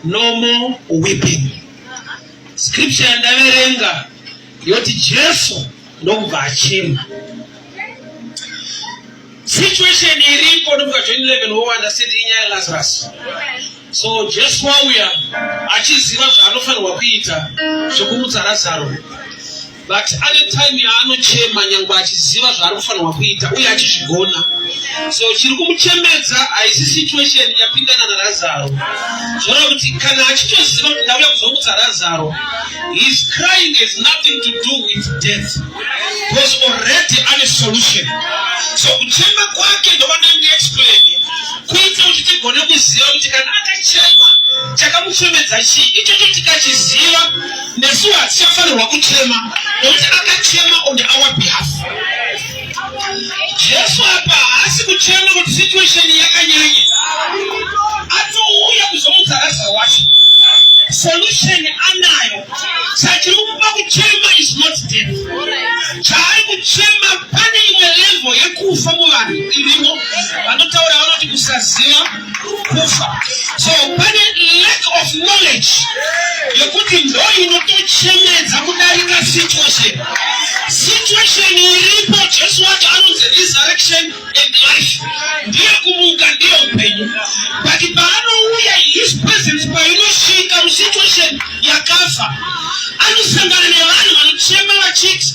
No more weeping. Scripture yandaverenga yoti Jesu ndokubva achema. Situation iriko ndobva 2011 wo understand inyaya Lazarus. So Jesu wauya achiziva zvaanofanirwa kuita zvekumutsa Lazaro. but ane time yaanochema nyangwe achiziva zvaari kufanirwa kuita uye achizvigona so chiri kumuchemedza haisi situation yapindana narazaro zvoreva kuti kana achitoziva kuti ndauya kuzomutsa razaro his crying has nothing to do with death because already ane solution so kuchema kwake ndovandange explain kuita kuti tigone kuziva kuti kana akachema chakamuchemedza chii ichocho tikachiziva nesuwo hatichafanirwa kuchema nokuti akachema on our behalf jesu apa haasi kuchema kuti situation yakanyanya atouya kuzomudza raza wacho solution anayo sachiri kuba kuchema is not death chaari kuchema pane imwe level yekufa muvanhu irimo vanotaura vanoti kusaziva kufa so pane lack of knowledge yekuti ndo inotochemedza kudarika situation situation iripo jesu wacho anonzi resurrection and life ndiye kumuka ndiye upenyu but paanouya his presence painosvika musituation yakafa anosangana nevanhu vanochema vachiti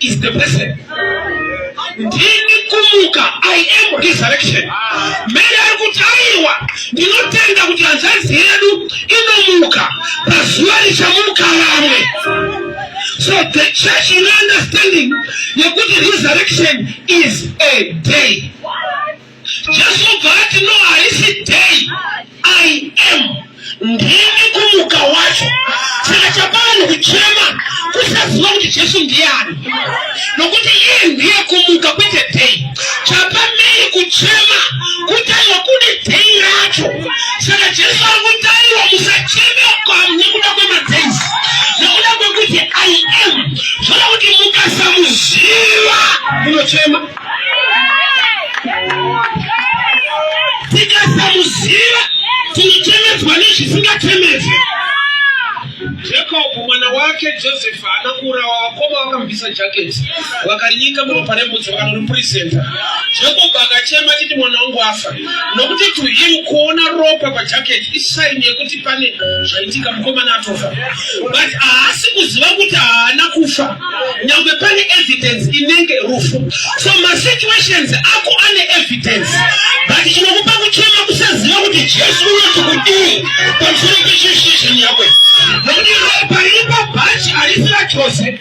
is the person ndini kumuka i am resurrection mary ari kuti aiwa ndinotenda kuti hanzvadzi yedu inomuka pazuva richamuka vamwe so the church ine understanding yekuti resurrection is a day Jesu obva ati no haisi day I am ndimi kumuka wacho saka chapa vanhu kuchema kusaziva kuti Jesu ndiani nokuti iye ndiye kumuka kwete day chapa mei kuchema kutaiwa kune day racho saka Jesu ari kutaiwa musacheme nekuda kwemadays nekuda kwekuti I am zvoda kuti mukasamuziva munochema tikasamuziva tinochemedzwa nezvisingachemedzi jakobho mwana wake josefa ana kuurawa vakoma vakamubvisa jaketi vakarinyika muropa rembudzi vakanoripurizenta jakobho akachema chiti mwana wangu afa nokuti to him kuona ropa pajacket isaini yekuti pane zvaitika mukomana atofa but haasi kuziva kuti haana kufa nyangwe pane evidence inenge rufu so masituations ako ane evidence but chinokupa kuchema kusaziva kuti jesu unoti kudii pamusoro pecheshishin yakwe nokuti ropa riri pabhachi harisi rachose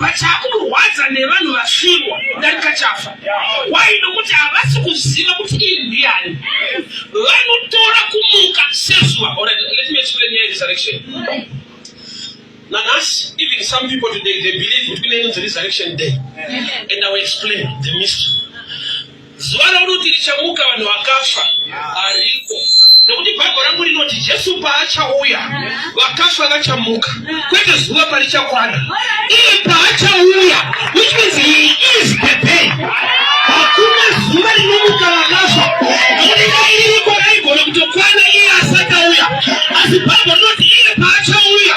But chakumurwadza nevanhu vasvirwa kudarika chafa. Why? Nokuti havasi kuziva kuti iyi ndiani. Vanotora kumuka sezuva. Alright, let me explain here resurrection. Nanhasi, even some people today, they believe kuti kune inonzi resurrection day. And I will explain the mystery. Zuva rokuti richamuka vanhu vakafa hariko nokuti bhaibheri rangu rinoti jesu paachauya vakafa vachamuka kwete zuva parichakwana iye paachauya which means he is the day hakuna zuva rinomuka vakafa nokuti dai ririko raigona kutokwana iye asati auya asi bhaibheri rinoti iye paachauya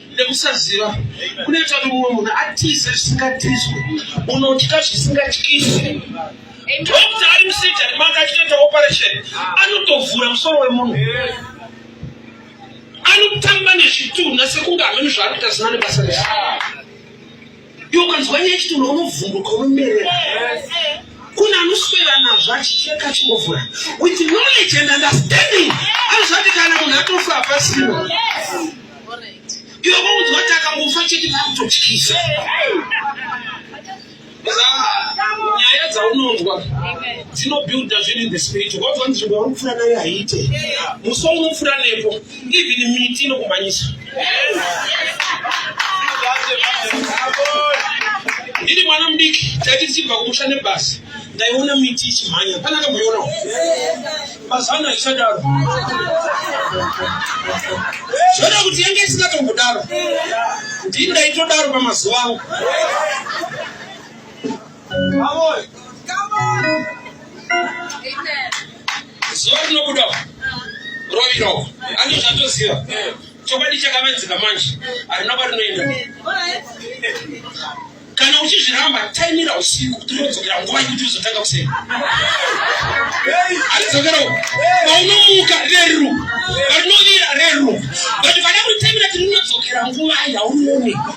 nekusaziva kunoita kuti mumwe munhu atize zvisingatizwe unotya zvisingatyise dokta ari musijari manga achitoita operation anotovhura musoro wemunhu anotamba nezvitunha sekunge hameno zvaanoita zina nebasa rese Iwe ukanzwa nyaya chitoro unovhunduka unomerera. Kuna anoswera nazvo achicheka achingovhura. With knowledge and understanding. Anozvati kana munhu atofa hapasimo. Iwe unonzwa kuti akangofa chete vakutotyisa. Nyaya dzaunonzwa dzinobuilda zvinhu in the spirit. Wazwa nzvimbo yaunofura nayo haiite. Musi waunofura nepo. Even miti inokumanyisa. Ndiri mwana mudiki taiti tichibva kumusha nebasa ndaiona miti ichimhanya pana kamboionawo mazano aichadaro zvoda kuti yange isingatombodaro ndii ndaitodaro pamazuva angu Amen. zuva rinobuda rovira uko andi zvatoziva chokwadi chakamedzeka manje harina kwarinoenda kana uchizviramba taimira usiku kuti unodzokera nguva yekuti uzotanga kuseni aridzokera uko paunomuka reru varinovira reru but vana kutaimira kuti rinodzokera nguva yaunooneka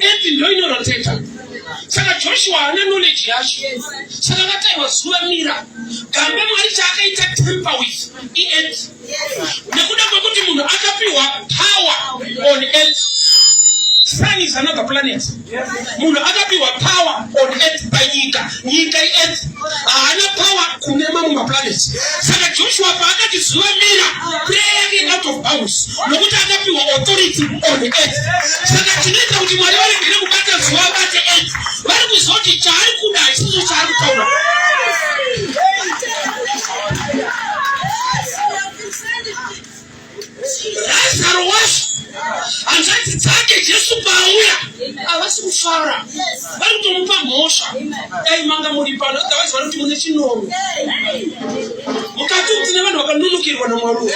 eti ndoinoroteta saka joshua haana knowledge yacho saka vataiwa zuva mira gambe mwari chaakaita temper with iet nekuda kwekuti munhu akapiwa power on earth sun is another planet munhu akapiwa power on earth by nyika nyika iearth haana power kune mamwe maplanet saka joshua paakati zuva mira prayer yake out of bounds nokuti akapiwa authority on earth saka tinoita kuti mwari varegere kubata zuva abate earth vari kuzoti chaari kuda hachisicho chaari kutaura Lazaro wacho hanzvadzi dzake Jesu paauya havasi kufara vari kutomupa mhosva dai manga muri pano otherwise vari kuti mune chinono mukati kuti nevanhu vakanunukirwa namwari uyu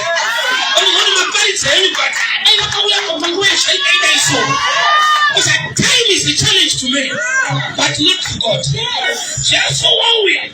vanogona maparidza enyu but dai vakauya panguva yezvaikaita iso time is the challenge to me but not to god Jesu wauya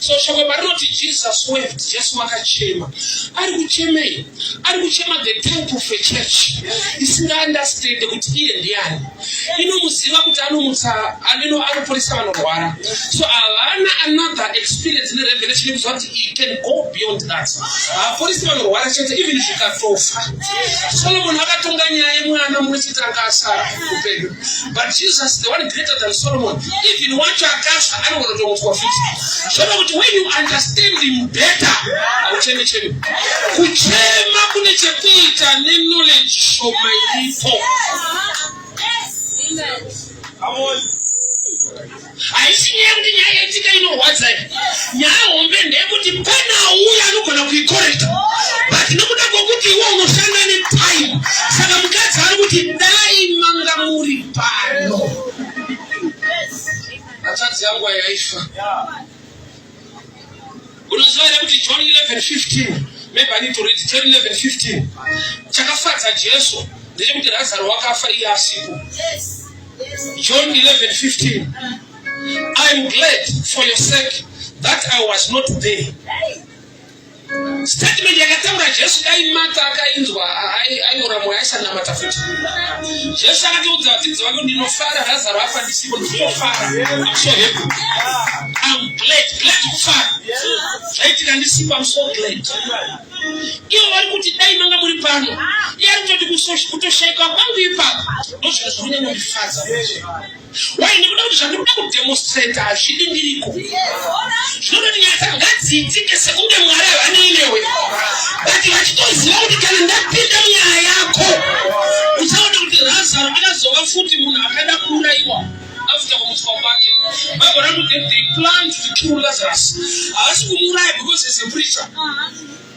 so shoko parinoti jesus wept jesu wakachema ari kuchemei ari kuchema the type of a church isingaunderstande kuti iye ndiani inomuziva kuti anomutsa aneno anoporesa vanorwara so havana another experience nerevelation ekuziva kuti i can go beyond that haaporesi vanorwara chete even zvikatofa solomoni akatonga nyaya yemwana mumwe chete anga asara upenyu But Jesus, the one greater than Solomon, even wacho akasha anogona kutomutswa futi. Zvava kuti when you understand him better, haucheme cheme. Kuchema kune chekuita ne knowledge shoma iripo. Come on. Haisi nyaya kuti nyaya yaitika inorwadza iyi. Nyaya hombe ndeyekuti pana uya anogona kuikorekta but nokuda kwokuti iwe unoshanda netime saka mukadzi ari kuti dai manga muri pano. Hatadzi yangu yaifa. Unoziva here kuti John 11:15 maybe I need to read John 11:15 chakafadza Jesu ndechekuti Lazaro wakafa iye asipo. John 11:15 I am glad for your sake that I was not there. statement yakataura jesu dai mata akainzwa aiora mweya aisanamata futi jesu akatiudza vadzidzi vake ndinofara razaro afa ndisipo ndinofara amso hepu am glad glad kufara zvaitika ndisipo amso glad ivo vari kuti dai manga muri pano iye ari kutoti kutoshaika kwangu ipapo ndozvino zviri kunyanya kundifadza Why nekuda kuti zvandiri kuda kudemonstrate hazvidi ndiriko. Zvinoda kuti nyaya dzangu ngadziitike sekunge Mwari havanei newe. But vachitoziva kuti kana ndapinda munyaya yako uchaona kuti Razaro akazova futi munhu akada kuuraiwa after kumutswa kwake. Bible ranoti they planned to kill Lazarus. Havasi kumuuraya because he's a preacher.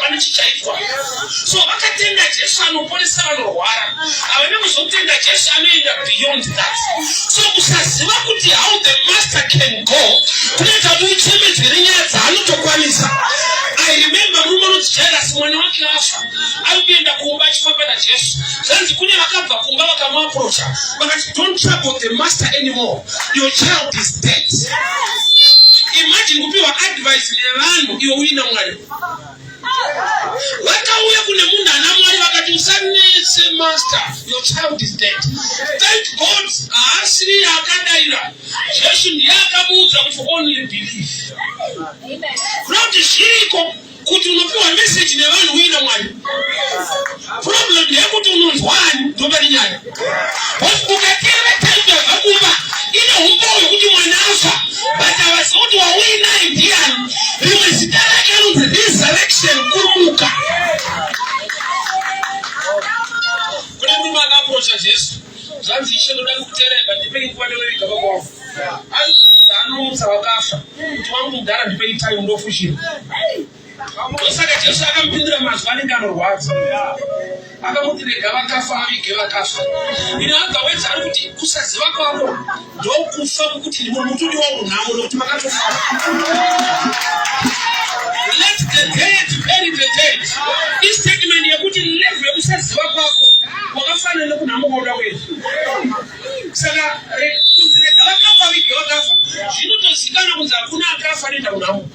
pane chichaitwa so vakatenda jesu anoponesa vanorwara havana kuzotenda jesu anoenda beyond that so kusaziva kuti how the master can go kunoita kuti uchemedzere nyaya dzaanotokwanisa i remember murume unonzi jairasi mwana wake afa ari kuenda kumba achifamba najesu zvanzi kune vakabva kumba vakamuaprocha vakati don't trouble the master anymore your child is dead imagine kupiwa advice nevanhu iwe uina mwari vakauya kune munhu ana mwari vakati usanese master your child is dead thank god haasiri yaakadaira jesu ndiye akamuudza kuti only believe not zviriko kuti unopiwa meseji nevanhu uye namwari problem ndeyekuti unonzwani ndopari nyaya ukateera taimu yabva kumba ine humba hwekuti mwana afa but avaziva kuti wauinaye ndiyani rimwe zita rake anonzi resurrection kurumuka kune murume akaprocha jesu zvanzi ishe ndoda kukutereva ndipei nguva ndonoviga baba wangu aizvisa anomutsa vakafa kuti wangu mudhara ndipei time ndofushira ndosaka jesu akamupindira mazwi anenge anorwadza akamuti rega vakafa avige vakafa ino agawedza ari kuti kusaziva kwako ndokufa mukuti ndimo mutudi wangu nhamo nokuti makatofa let the dead bury the dead istatement yekuti level yekusaziva kwako wakafanana nekunhamo kwauda kuenda saka kunzi rega vakafa vige vakafa zvinotozikana kunzi hakuna akafa anoenda kunhamo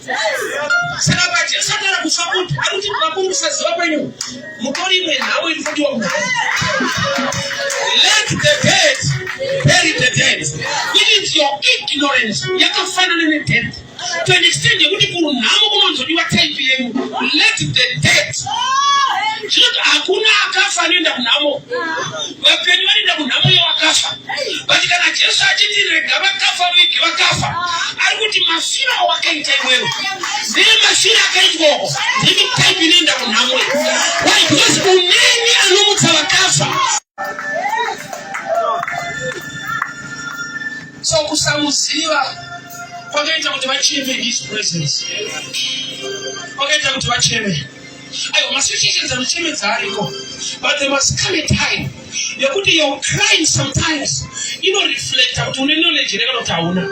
saka pajesu ataura kufa kuti ari kuti vakuru kusaziva kwenyu mutori imwe nhau iri kudiwa kugara let the dead bury the dead means your ignorance yakafanana nedeath to an extent yekuti kunhamo kunonzodiwa type yenyu let the dead zvinoti hakuna akafa anoenda kunhamo vapenyu vanoenda kunhamo yevakafa but kana jesu achiti rega vakafa vege vakafa ah. ari kuti mafiro awakaita iwewe ndiye mafiro akaitwoko ndimi type inoenda kunhamo why because uneni anomutsa vakafa so kusamuziva kwakaita kuti vacheme his presence kwakaita kuti vacheme Ayo masituations anochemedza ariko but there must come a time yekuti your crime sometimes inoreflecta kuti une knowledge here kana kuti hauna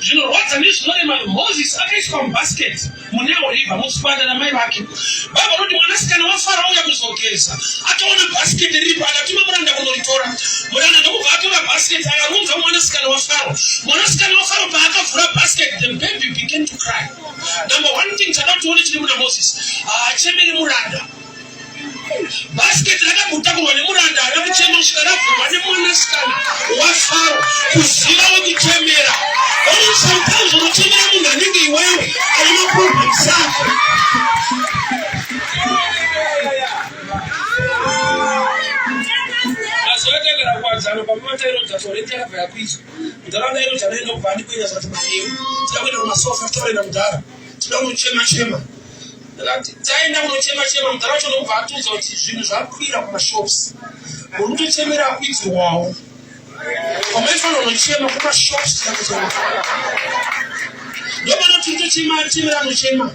zvinorwadza nezvinorema moses akaiswa mubasket muneo river mutsipanda namai vake baba vanoti mwanasikana wafara auya kuzogeza akaona basket riripo akatuma muranda kunoritora muranda ndokubva atora basket akarunza mwanasikana wafaro mwanasikana wafaro paakavhura basket the baby began to cry Number one thing chada kuti tione chiri muna Moses haachemeri muranda. Basket rakagutakurwa nemuranda haana kuchema kusvika ravhurwa nemwanasikana waFaro kuziva wekuchemera. Only sometimes unochemera munhu anenge iwewe ane maproblems ako. Mazuva atakara kuwadzana pamwe matairodza sore takabva yakuizwa. ndaraunda ino tanoenda kubva ndikuenda zvati maeu tida kuenda kumasofa titoenda mudhara tida kunochema chema ndakati taenda kunochema chema mudhara wacho ndokubva atiudza kuti zvinhu zvakwira kumashops muri kutochemera akuitirwawo kwamaifanira unochema kumashops tida kuchema ndomana tiri tochema chemera anochema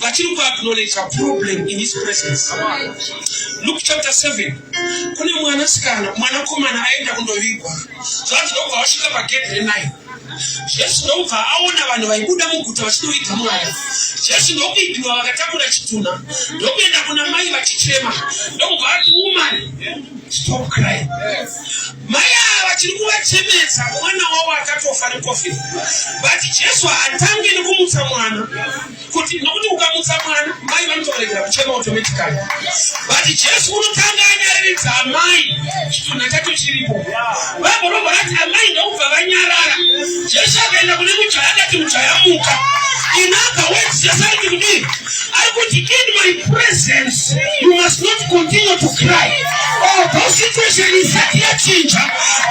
vachiri kuaknowledja problem in his presence luke chapter 7 kune mwanasikana mwanakomana aenda kundovigwa zvanzi ndokubva vasvika pagedhi renine jesu ndokubva aona vanhu vaibuda muguta vachinoviga mwana jesu ndokuipiwa vakatakura chitunha ndokuenda kuna mai vachichema ndokubva ati umani stop crying Mai ava vachiri kuvachemedza mwana wavo akatofa necovid but jesu haatange nekumutsa mwana kuti nokuti ukamutsa mwana mai vanotoregera kuchema automatically but jesu unotanga anyareredza amai chitunha chacho chiripo vagorova vati amai ndokubva vanyarara jesu akaenda kune mujaya akati mujaya muka inaka wedziyasariti kudii ari kuti in my presence you must not continue to cry or oh, those situation isati yachinja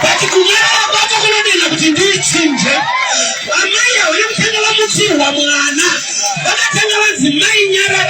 but kunyarara kwako kunodinha kuti ndiichinje vamai avo vekutanga vamutsirwa mwana vakatanga vanzi mai nyararai